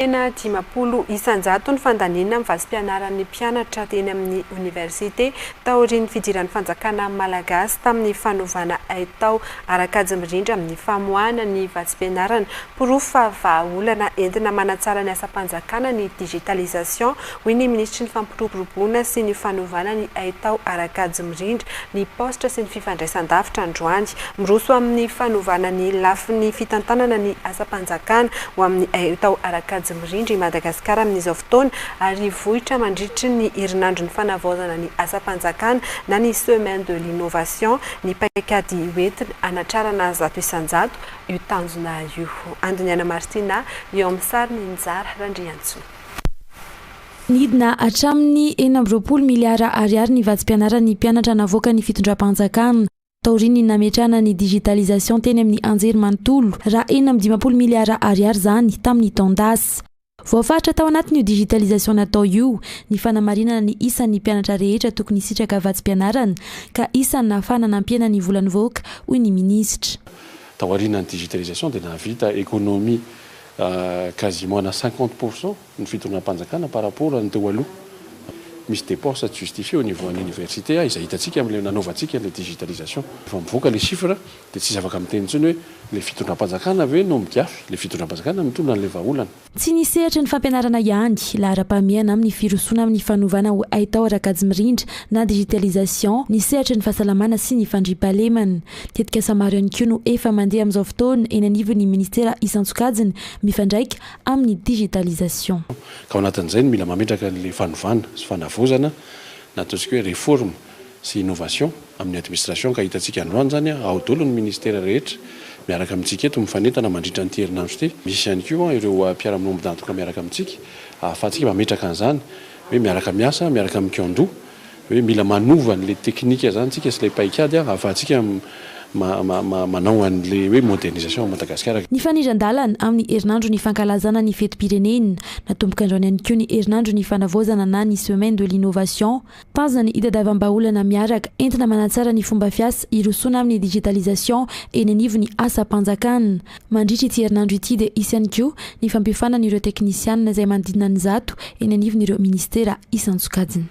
Firenena dimampolo isan-jato ny fandaniana amin'ny vazim-pianaran'ny mpianatra teny amin'ny oniversite taorian'ny fidiran'ny fanjakana malagasy tamin'ny fanovana haitao ara-kajy mirindra amin'ny famoahana ny vazim-pianarana. Porofo fa vahaolana entina manatsara ny asam-panjakana ny digitalisation Hoy ny minisitry ny Fampiroboroboana sy ny fanovana ny haitao Arakajy Mirindra ny paositra sy ny fifandraisandavitra androany. Miroso amin'ny fanovana ny lafiny fitantanana ny asam-panjakana ho amin'ny haitao Arakajy Mirindra i Madagasikara amin'izao fotoana ary vohitra mandritry ny herinandron'ny fanavaozana ny asam-panjakana na ny semaine de l'innovation ny paikady hoentina hanatrarana zato isan-jato io tanjona io. Andiniana Martina eo amin'ny sariny Njara Randriantsoa. Nidina hatramin'ny enina amby roapolo miliara ariary ny vatsim-pianaran'ny mpianatra navoakan'ny fitondram-panjakana taorian'ny nametrahana ny digitalisation teny amin'ny anjerimanontolo, raha enina amby dimampolo miliara ariary izany tamin'ny taon-dasa. Voafaritra tao anatin'io digitalisation natao io ny fanamarinana ny isan'ny mpianatra rehetra tokony hisitraka vatsim-pianarana ka isany nahafahana nampiena ny vola nivoaka, hoy ny minisitra. Taorianan'ny digitalisation dia nahavita économie. Quasiment na cinquante pour cent ny fitondram-panjakana par rapport an'ny teo aloha. Misy dépenses tsy justifiées au niveau an'ny universités izay hitantsika amin'ilay nanaovantsika ilay digitalisation. Rehefa mivoaka ilay chiffre dia tsy afaka miteny intsony hoe ilay fitondram-panjakana ve no migiafy? Ilay fitondram-panjakana no mitondra an'ilay vahaolana. Tsy ny sehatry ny fampianarana ihany, laharam-pahamehana amin'ny firosoana amin'ny fanovana ho haitao ara-kajy mirindra na digitalisation, ny sehatry ny fahasalamana sy ny fandriampahalemana. Tetikasa maro ihany koa no efa mandeha amin'izao fotoana eny anivon'ny minisitera isan-tsokajiny mifandraika amin'ny digitalisation. Ka ao anatin'izany, mila mametraka an'ilay fanovana sy fanavaozana na ataontsika hoe réforme sy innovation amin'ny administration ka hitantsika androany izany ao daholo ny minisitera rehetra miaraka amintsika eto mifanentana mandritra an'ity herinandro ity. Misy ihany koa ireo mpiara-miombon mpiantoka miaraka amintsika ahafahantsika mametraka an'izany hoe miaraka miasa miaraka mikiandoha hoe mila manova an'ilay teknika zany tsika sy ilay paikady ahafahantsika manao an'ilay hoe modernisation ao Madagasikara. Nifanindran-dalana amin'ny herinandro ny fankalazana ny fetim-pirenena. Natomboka androany ihany koa ny herinandro ny fanavaozana na ny semaine de l'innovation. Tanjona ny hitadiavam-bahaolana miaraka entina manatsara ny fomba fiasa hirosoana amin'ny digitalisation eny anivon'ny asam-panjakana. Mandritra ity herinandro ity dia hisy ihany koa ny fampiofanana ireo teknisianina izay manodidina ny zato eny anivon'ireo minisitera isan-tsokajiny.